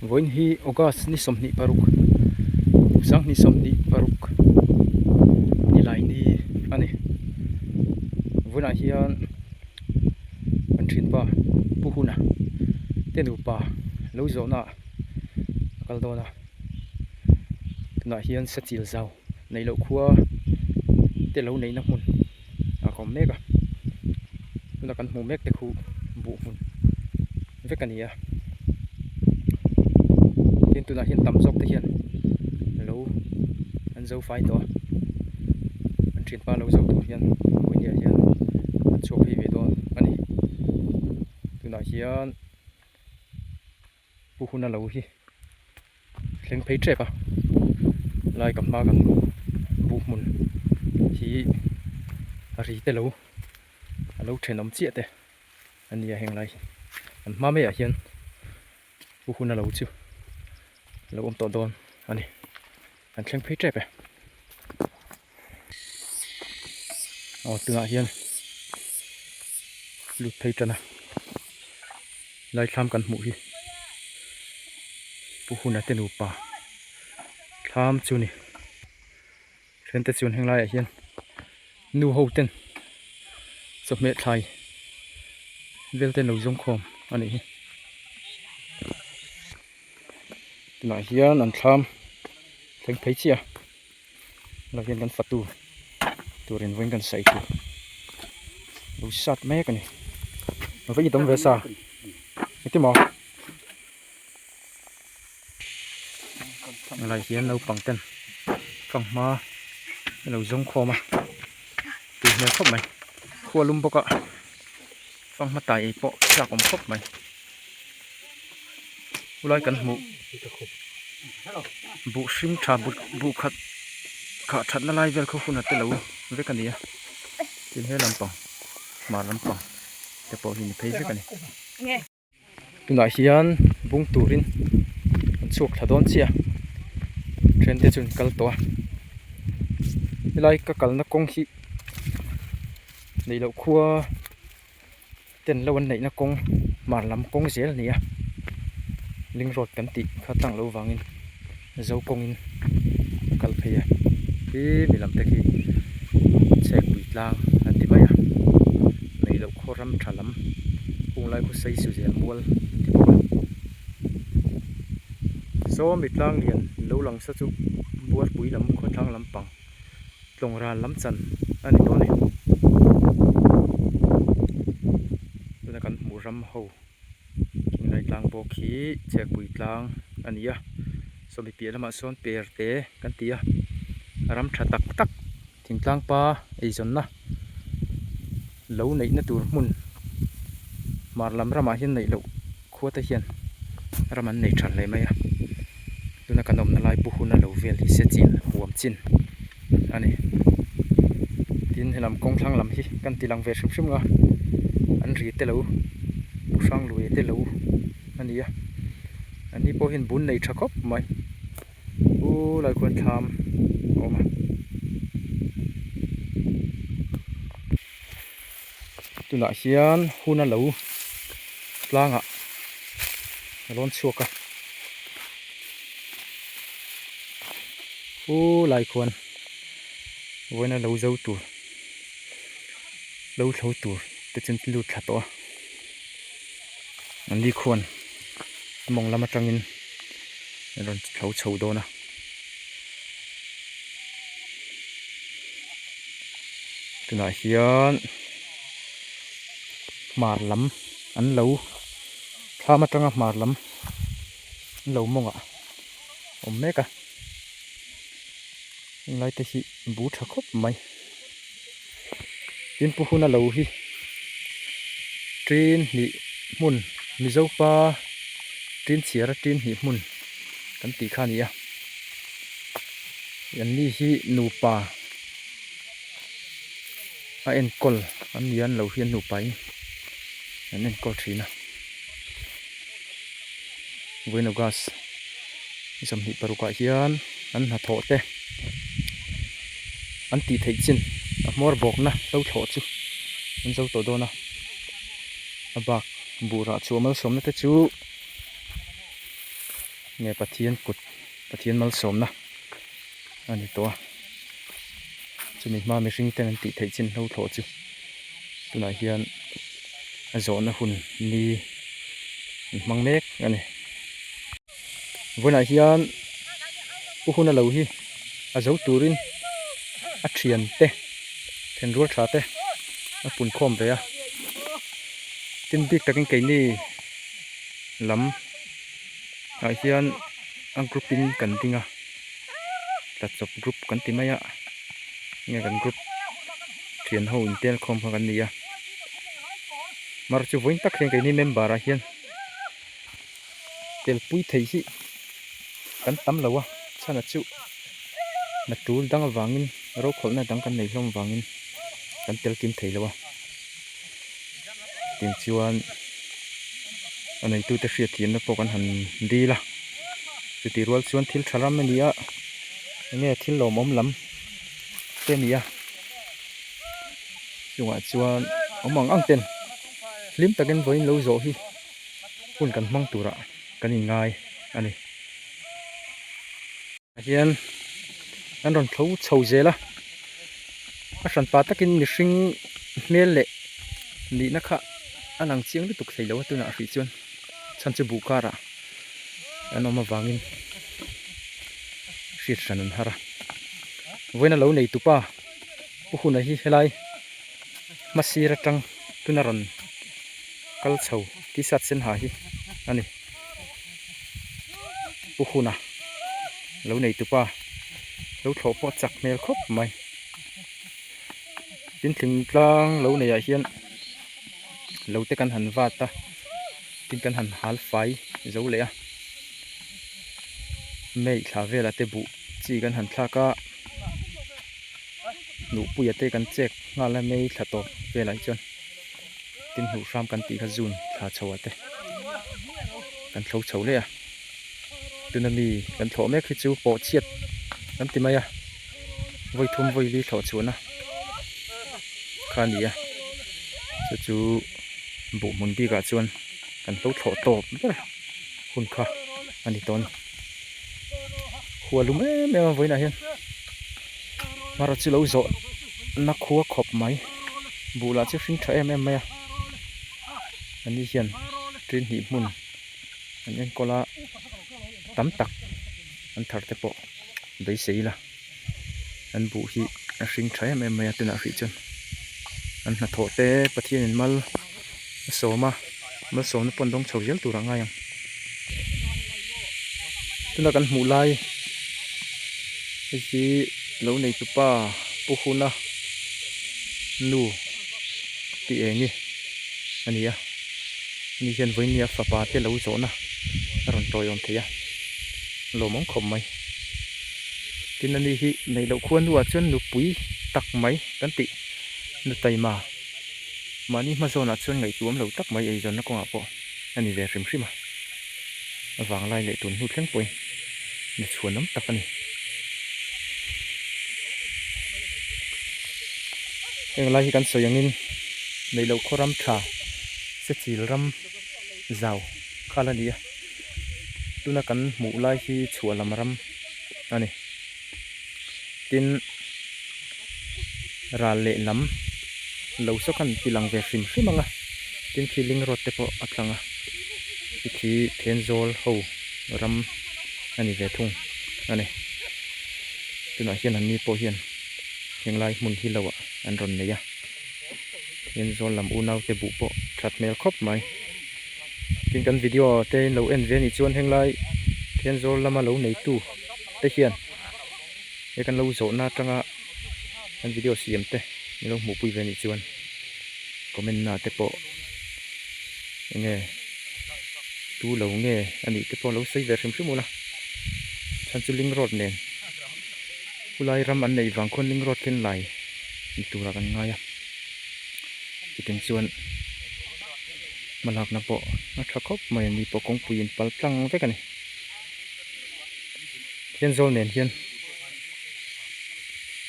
Vawiin hi August ni sawmhnih paruk sang ni sawmhnih paruk ni lai ni a ni vawiin ah hian kan thinpa Pu Huna te nupa lo zawhna a kal dawn a tunah hian Sachil zau neilo khua te lo neihna hmun. a kawm mek a tunah kan hmuh mek te khu buhfun vek a ni a tin tunah hian tam zawk te hian lo an zo fai tawh a an thinpa lo zo tur hian khawpui hnih ah hian an chhuak phei ve dawn a ni tunah hian-- Pu Huna lo hi thleng phei tep a, lai ka hma kan buh hmun hi a ri te lo, a lo thenawm chiah te a ni a heng lai hi. Kan hma maiah hian Pu Huna lo chu lo awm tawh dawn a ni, kan thleng phei tep e. aw tunah hian lut phei tana laithlam kan hmuh hi pu huna te nupa thlam chu a ni then te chuan heng laiah hian nu ho ten chawhmeh thlai vel ten lo zawng khawm a nih hi tunah hian an thlam thleng phei chiah a. Lo hian kan fatu turin vawiin kan saih thei. Lo sat mek a ni. Lo vei dawm ve sa. Ni ti maw? Helai hian naupang ten fang hma an lo zawng khawm a. Tui hmel khawp mai. Khualum bawk a. Ka hmatai ei pawh hriat awm khawp mai. Khulai kan hmuh buh hring tha but buh khat khah that na lai vel khaw hunah te lo vek a ni a. Tin he lampang hmar lampang te pawh hi ni phei vek a ni. tunah hian bung turin an chhuak thla dawn chiah a then te chuan an kal tawh a helai ka kalna kawng hi neih loh khua ten lo an neihna kawng hmar lam kawng zel a ni a ling road kan tih kha tlang lo vangin. zo kawng in a kal phei a khi mi lam te khi chhek pui tlang an ti mai a nei loh khaw ram tha lam kung lai khawsei su zel mual an ti bawk a sawmi tlang lian lo lang sa chu bualpui lam khaw thlang lam pang tlawng ral lam chan a ni dawn a tuna kan hmuh ram ho-- Inlai tlang bawk hi chhiakpui tlang a ni a, sawmi piah lamah sawn perte kan ti a, ram tha tak tak thingtlangpa eizawnna lo neihna tur hmun hmarlam ramah hian neih loh khuate hian ram an nei tha hle mai a. tuna kan awmna lai pu huna lo vel hi Sechin huam chin a ni tin helam kawngthlang lam hi kan ti lang ve hrim hrim a an ri te lo pu hranglui te lo a ni a an ni pawh hian bun nei tha khawp mai u laikhuan thlam a awm a. tunah hian hun a lo tlang ah a rawn chhuak a ooh laikhuan vawiin a lo zo tur lo thlo tur te chu an lut thla tawh a. an nikhuan a mawng lam atangin an rawn thlo chho dawn a tunah hian hmar lam an lo thlam atang a hmar lam an lo mawngah a awm mek a. Heng lai te hi bu tha khawp mai. Tin pu huna lo hi ṭin hnih hmun Mizo pa ṭin chhiar a ṭin hnih hmun kan tih kha a ni a. An ni hi nupa a enkawl an ni a, an lo hian nupa in an enkawl ṭhin a. Bueno Gas Zahmih parukah hian an hnathawh te an tih theih chin a hmawr bawkna hlothlawh chu an zo tawh dawn a, a bak buhrah chhuah malsawmna te chu nge Pathian kut Pathian malsawmna. a ni tawh a, chumi hma mihring ten an tih theih chin hlo thlawh chu tunah hian a zawhna hun ni an hmang mek a ni. Vawiinah hian pu huna lo hi a zo turin a thian te thian rual tha te a pun khawm ve a, tin bik takin keini lam ah hian a group in kan ding a. tlachawp group kan ti mai a enge kan group thian ho intel khawm kha kan ni a mar chu vawiin tak hian keini member ah hian tel pui thei hi kan tam lo a chhan ah chu hna tul dang avangin rokhawlna dang kan nei hlawm vangin kan tel kim thei lo a. tin chuan a neitute hriathiamna pawh kan han dil a chutih rual chuan thil tha ram a ni a enge thil lawm awm lam te a ni a chungah chuan awm ang ang ten hlim takin vawiin lo zawh hi hun kan hmang turah kan inngai a ni. hian an rawn tho chho zel a a hran pa takin mihring hmel leh nihna kha a lang chiang lutuk theih loh a tunah a hrilh chuan chhan chu buh karah an awm avangin hriat hran an har a vawiin a lo nei tupa pu hunah hi helai hmasa sir atang tuna rawn kal chho t-shirt sen ha hi a ni. pu hunah lo nei tupa lo thlawh pawh chak hmel khawp mai tin tling tlang lo nei ah hian lo te kan han vat a tin kan han hal fai zo leh a mai thla vela te buh chi kan han thlak a nuhpuia te kan chek nghal a mai thla tawp velah chuan. tin hmuh hram kan tih kha june thla chho ah te kan thlo chho leh a tuna mi kan thlawh mek hi chu pawh chhiat kan ti mai a vawi thum vawi li thlawh chhuah na kha ni a chu chu buh hmun bik ah chuan kan hlo thlawh tawp ber hun kha a ni tawh a ni hualum em em a vawiin ah hian. Hmara chu lo zawh na khua khawp mai bulah chu hring tha em em mai a an ni hian ṭin hnih hmun an enkawl a tam tak an thar te pawh beisei ila an buh hi a hring tha em em mai a tunah rih chuan an hnathawh te pathian in mal-- a sawm a bal sawmna pawn rawng chho zel tur a ngai ang tuna kan hmuh lai hei hi lo neitu pa pu huna nu ti eng nge a ni a ni hian vawinmia fapa te lo zawhna a rawn tawiawm thei a lawm ang khawp mai tin a ni hi neih loh khuan nu ah chuan nupui tak mai kan tih nu taima. Mahni hma zawnah chuan ngaihtuam lo tak mai eizawnna kawngah pawh a ni ve hrim hrim a, a vanglai leh tun hnu thleng pawhin ni chhuanawm tak a ni. Heng lai hi kan sawi angin neihloh khawram tha se chil ram zau khalh a ni a, tuna kan hmuh lai hi chhuah lam ram a ni. tin ral leh lam lo saw khan pi lang ve hrim hrim ang a tin khi ling road te pawh a tlang a khi khi Thenzawl ho ram a ni ve thung a ni tunah hian an ni pawh hian henglai hmun hi lo ah an rawn nei a Thenzawl lam unau te buh pawh tha hmel khawp mai tin kan video te in lo en ve a nih chuan henglai Thenzawl lama lo neitu-- te hian he kan lo zawhna atanga kan video siam te min lo hmuh pui ve nih chuan comment na te pawh enge tu lo nge a nih te pawh lo sawi ve hrim hrim ula chan chu ling road nen khulai ram an nei vang khawn ling road khen lai ni tura kan ngai a chutiang chuan hmalak na pawh a tha khawp mai a ni pawh kawngpui in pal tlang vek a ni. Kenzo nen hian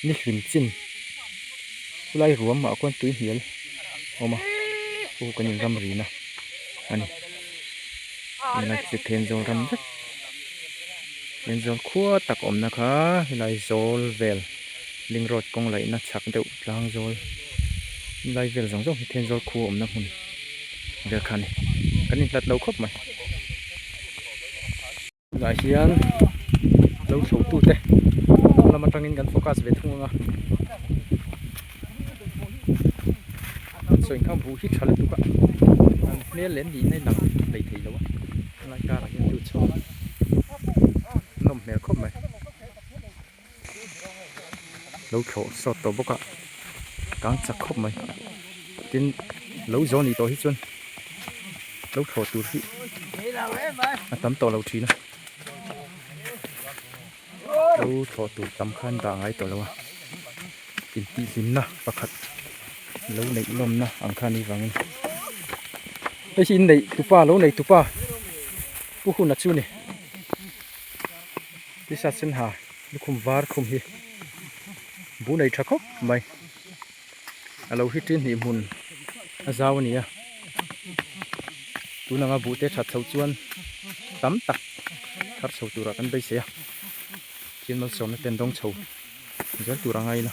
nihlim chin khulai ruam mah khuan tui hnial awm a pu kan in ram rin a a ni hemi lai khi chu Kenzo ram vek Kenzo khua tak awmna kha helai zawl vel ling road kawng laihna chak deuh tlang zawl lai vel zawng zawng hi Kenzo khu a awmna hmun. derhkhan kan in hlat lo khawp mai tunah hian lo hlutu te dawr lam atangin kan focus ve thung anga an sawi inkham bu hi tha lutuk a an hmel lem niin a inang lei thei lo a helai karah hian chu chhawng nawm hmel khawp mai. lo thlawh sawt tawh bawk a kang chak khawp mai tin lo zawh a nih tawh hi chuan lo thlawh tur hi a tam tawh lo thin a lo thlawh tur tam khan dah ngai tawh lo a intihhlim na pakhat lo neih lawm na ang kha ni vang in hei hi inneih tupa lo nei tupa pu hunah chu ni. T-shirt sen ha lukhum var khum hi bu nei tha khawp mai a lo hi tin hnih hmun a zau a ni a tun anga bu te that chho chuan tam tak thar chho tur ah kan beisei a chinmal sawmna ten dawng chho zel tur anga in a.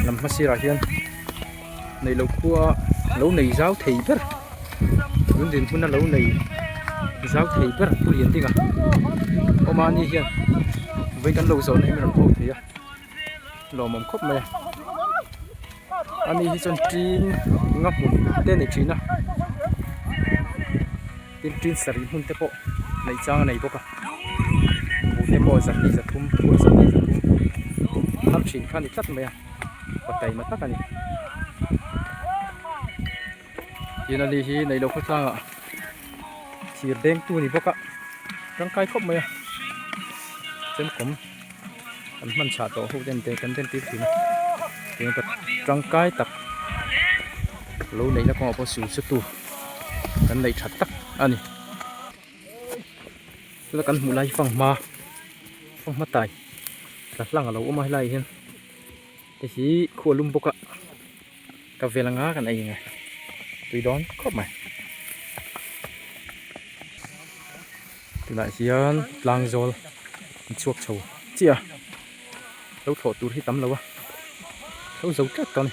Hnam hma sirah hian neih loh khua lo nei zau thei ber an din hmuna lo nei zau thei ber pawh lian ding a aw mahni hian vei kan lo zawhna hi min rawn hawk thei a lawmawm khawp mai a ani hi chuan tingin nga hmun te nei thin a. Tin tin sarih hmun te pawh neih chang a nei bawk a, buh te pawh za hnih za thum phur za hnih za thum thar thin kha a ni tlat mai a, paw taima tak a ni. Tin a ni hi neih loh khaw tlangah thir bengtu a ni bawk a, tangkai khawp mai a, chem kawm. kan hman chhah tawh ho ten te kan entir thin a tangkai tak lo neih na kawngah pawh siam sa tu kan neih that tak a ni tuna kan hmuh lai hi fanghma fanghma tai tla hlang alo awm a helai ah hian. Hei hi khu a lum bawk a, ka vel anga kan ei ang e, tui dawn khawp mai. Tunah hian tlang zawl in chhuak chho chiah a, lo thlawh tur hi tam lo a, lo zo tlat ta a ni.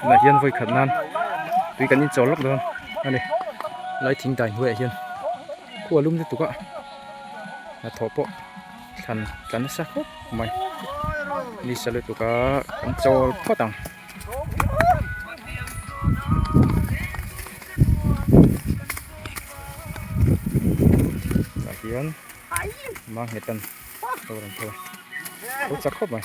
tunah hian vawi khat nan tui kan inchawr lawk dawn a ni helai thing dan hnuaiah hian khua lum lutuk a hnathawh pawh thlan tla nasa khawp mai ni sa lutuk a kan chawl phawt ang. hian mang hnetan lo lang thei a lo chak khawp mai.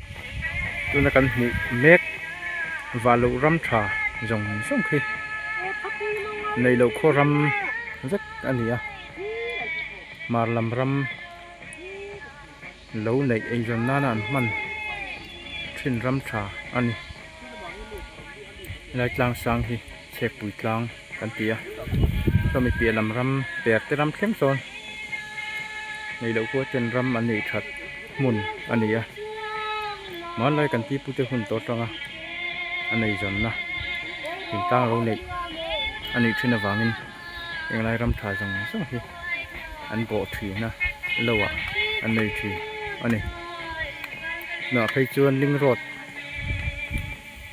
tuna kan hmuh mek vah loh ram tha zawng zawng khi neih loh khaw ram vek a ni a hmar lam ram lo neih eizawn nana an hman thin ram tha a ni lai tlang sang hi. Chhekpui tlang kan ti a, saw mi piah lam ram per te ram thleng sawn nei loh pawh chen ram an nei that hmun a ni a, hmanlai kan ti pute hun tawh atanga a nei zawn na in tlang lo neih a nih thin avangin englai ram tha zawng zawng hi an bawh thin a lo ah an nei thin a ni. Nahphei chuan ling road.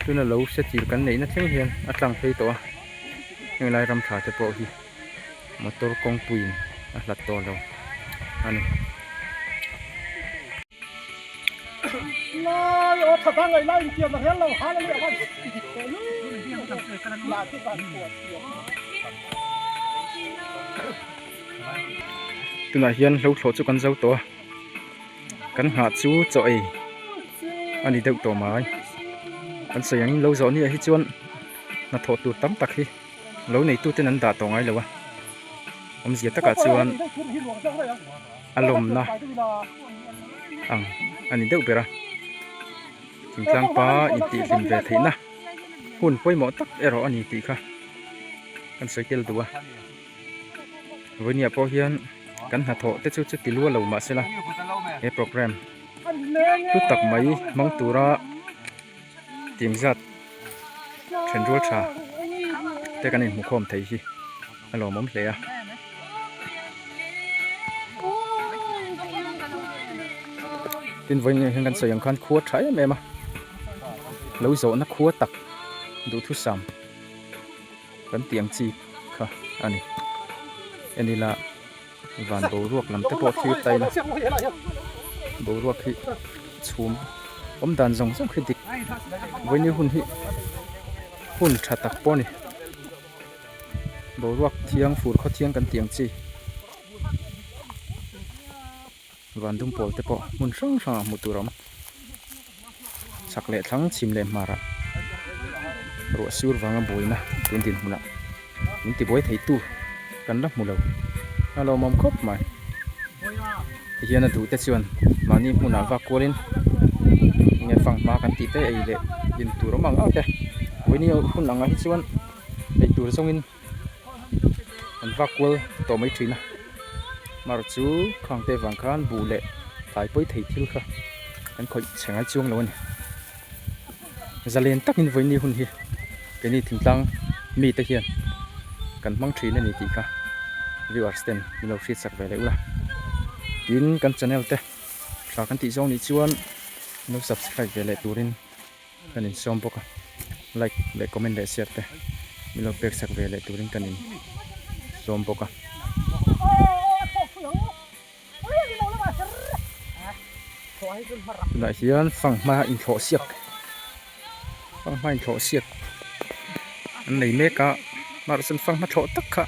Tuna lo hre tir kan neihna thleng hian a tlang phei tawh a, heng lai ram tha te pawh hi motor kawngpuiin a hlat tawh lo a ni. Tunah hian hlauhthlawh chu kan zau tawh a. kan nghah chu chaw ei a ni deuh tawh mai kan sawi ang in lo zawh aniah hi chuan hnathawh tur tam tak hi lo nei tu ten an dah tawh ngai lo a awm zia takah chuan a lawmna ang a ni deuh ber a thingtlang pa intihlin ve theih na hun pawimawh tak erawh a ni tih kha kan sawi tel duh a. Vawihnia pawh hian kan hna thawh te chu chu ti lual lo mahsela he programme hlu tak mai hmang tura timzat thenrual tha te kan inhmu khawm thei hi a lawmawm hle a. Tin vawinia hian kan sawi ang khan khua tha em em a, lo zawhna khua tak duhthusam. Kan tih ang chi kha a ni. En ila van boruak lam te pawh thlir ta ila boruak hi chhum awm dan zawng zawng hi dik vawiin hun hi hun tha tak pawh a ni. Boruak thiang fur khaw thiang kan tih ang chi. Vândum pâwl te pawh hmun hrang hrangah hmuh tûr a awm. Chhak leh thlang chhim leh hmarah ruah sîur vanga buaina tûn din hmunah min tibuai theitu kan la hmu lo a lâwmawm khawp mai. Tihian a duh te chuan mahni hmunah vak kualin enge fang hma kan tih te ei leh din tûr awm ang ang te. Vawini hun angah hi chuan ei tûr zawngin. an va kual tawh mai thin a mar chu khang te vang khan buh leh thlaipawi thei thil kha an khawih chhe ngai chuang lo a ni zalen takin vawiin hun hi kei ni thingtlang mi te hian kan hmang thin a ni tih kha viewers ten min lo hriat chak ve leh ula tin kan channel te tha kan tih zawng nih chuan min lo subscribe ve leh turin. Kan in sawm bawk a, like leh comment leh share te min lo pek chak ve leh tur in kan in sawm bawk a. Tunah hian fanghma in thlawh siak fanghma in thlawh siak an nei mek a, mahse fanghma thlawh tak kha.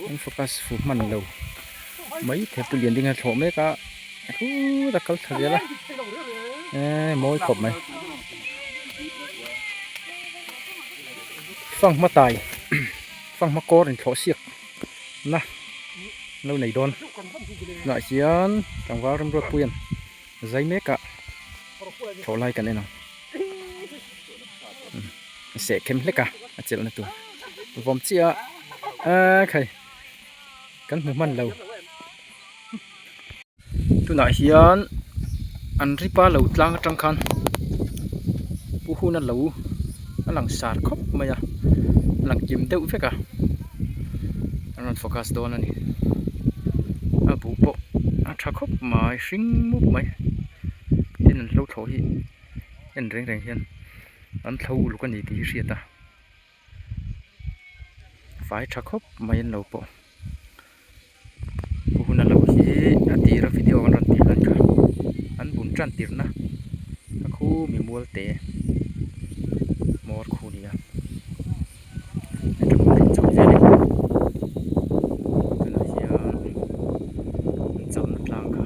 An focus fuh hman lo. Mai the pu lian ding a thlawh mek a. Thu ta kal tha zel a. Eh mawi khawp mai. Fang ma tai. Fang ma kor in thlawh siak. Na. Lo nei dawn. Tunah hian tlangval remruat pui an. Zai meka thlawh lai kan en ang a seh khem hlek a a chelh na tur vawm chiah a aaa khai kan hmu hman lo tunah hian an ripa lo tlang atang khan pu hun a lo. a lang sar khawp mai a a lang kim deuh vek a a rawn focus dawn a ni a buh pawh a tha khawp mai hring mup mai tin an hlo thawh hi en reng reng hian an thlo uluk a ni tih hi hriat a fai tha khawp mai an lo pawh. Ka hun a lo hi a tir a video an rawn tir dan kha an bun tan tir na a khu mi mual te mawr khu a ni a heta hun rawn chho zel em em tunah hian an chauh na tlang kha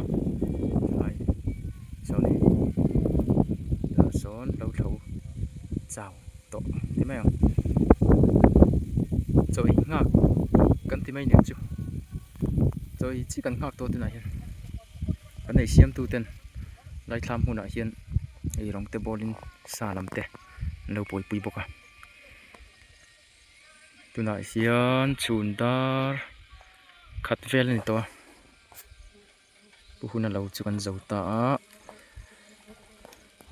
hmai zawng in tah sawn lo tho chau. tawh ti mai ang chawi nghak kan ti mai ang chu chawi chi kan nghak tawh tunah hian kan ei siam tu ten laithlam hmunah hian ei rawng te bawr in sa lam te an lo buai pui bawk a tunah hian chhun dar khat vel a ni tawh a. Pu Hun a lo chu kan zo ta a,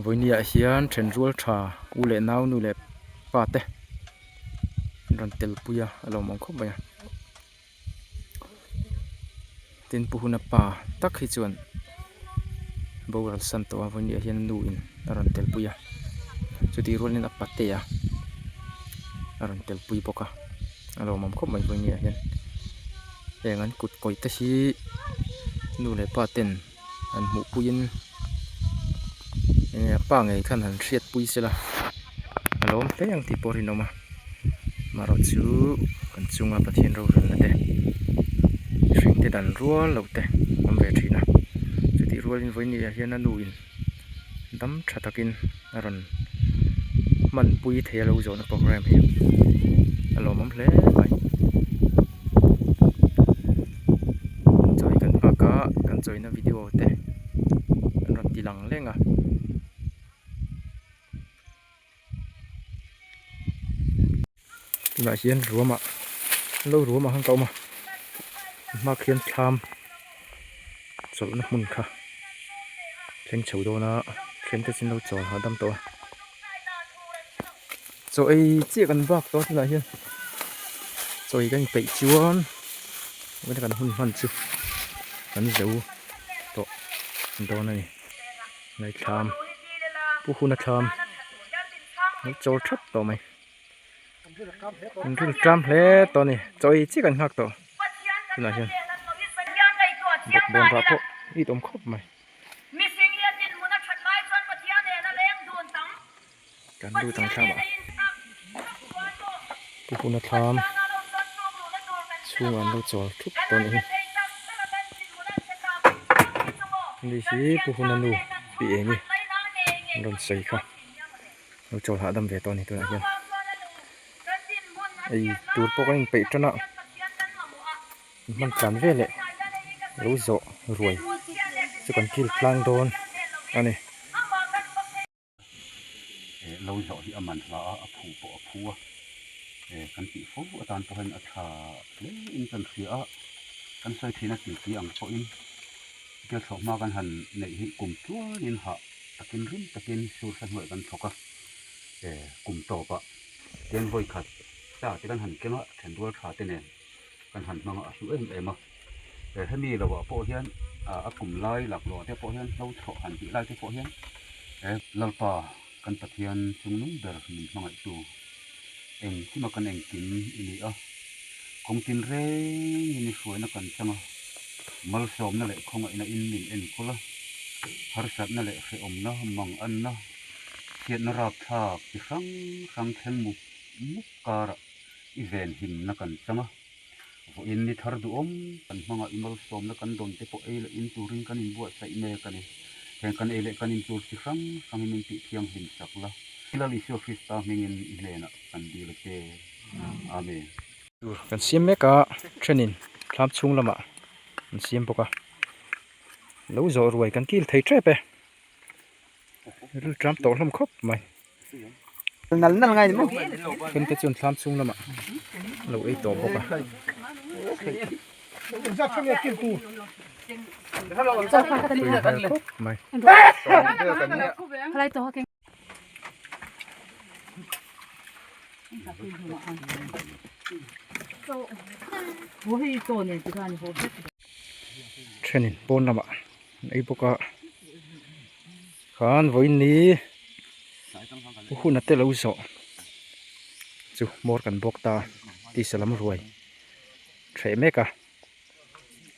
vawinia ah hian then rual tha u leh nau nu leh pa te an rawn tel pui a, a lo awm ang khawp mai a, tin Pu Hun a pa tak hi chuan boral san tawh a, vawinia ah hian a nu in a rawn tel pui a, chutih rual in a patea a rawn tel pui bawk a. a lo awm khawp mai pawh nia hian heng an kut kawih te hi nu leh pa ten an hmuh puiin enge pa ngei khan han hriat pui sela a lo awm tlem ang tih pawh a rinawm a amaherawhchu an chunga pathian rolalna te mihring te dan rual lo te awm ve thin a chutih rualin vawinia hian a nu in-- dam tha takin a rawn hman pui thei a lo zawhna programme hi a lawmawm hle mai chawi kan nghak a kan chawina video te an rawn ti lang leng a. tunah hian ruamah an lo ruam ang ka awm a a hmaah khian thlam chawlhna hmun kha thleng chho dawn a thian te chu an lo chawi hahdam hahdam tawh a chawi chiah kan bak tawh a tunah hian chawi kan inpeih chuan heta kan hun hman chu kan zo tawh dawn a ni. Ngaithlam pu Hunathlam an chaw that tawh mai an rilh tlam hle tawh a ni chawi chiah an nghak tawh tunah hian bawkbawn rah pawh i awm khawp mai. Kan lut ang thlam ah tihuna thlam chhung an lo chawr thup tawh ni hi. Ni hi pu huna nu pi eng hi an rawn sawi kha lo chawl hahdam ve tawh a ni tunah hian ei tur pawh ka in peih tan a in hman tlan ve leh lo zawh ruai chu kan kil tlang dawn a ni. eh lawi hlauh hi a man hlâ a, a phu pawh a phu a, eh kan tih fo atan pawh hian a ṭha hle in ka rawn hria a, kan sawi thin a titi ang pawhin Gerthlawh hma kan han neih hi kum tluang in hah takin rim takin sur thla hnuaih kan thawk a, eh kum tawpah Tianvawi khat ta te kan han keng a, ṭhen rual ṭha te nen. Kan han hmang a hlu em em a. He hemi lo ah pawh hian a kum lai lak lo ah te pawh hian hlo chhawh han tih lai te pawh hian he Lalpa kan Pathian chung nung ber min hmangaih tu eng chim a kan engkim i ni a. Kawng tin reng in i hruaina kan chang a, malsawmna leh khawngaihna in min en khawl a, harsatna leh hrehawmna, mang anna, chhiatna rapthlak chi hrang hrang thleng muk muk karah, I vel himna kan chang a, vawiin ni thar duhawm kan hmanga i malsawmna kan dawn te pawh ei leh in turin kan inbuatsaih mek a ni. Heng kan ei leh kan in tur chi hrang hrang hi min tih thianghlim sak la. I Lal Isua Krista hmingin i hnenah kan dil a che. Amen. Tur kan siam mek a, thenin thlam chhung lamah an siam bawk a, lo zawh ruai kan kil thei tep e, rilṭam tawh hlawm khawp mai. nal nal ngai maw khem te chuan thlam chhung lamah lo ei tawh bawk a thenin pawn lamah. ei bawk a khan vawiin ni u hunna te lo zawh chu motor kan bawk ta tisa lam ruai theh mek a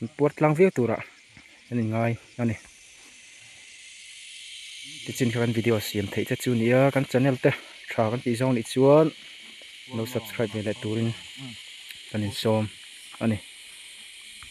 in puar tlang viau turah kan in ngai a ni te chin kha kan video siam theih te chu a ni a kan channel te tha kan tih zong anih chuan lo subscribe ve leh turin kan insawm a ni.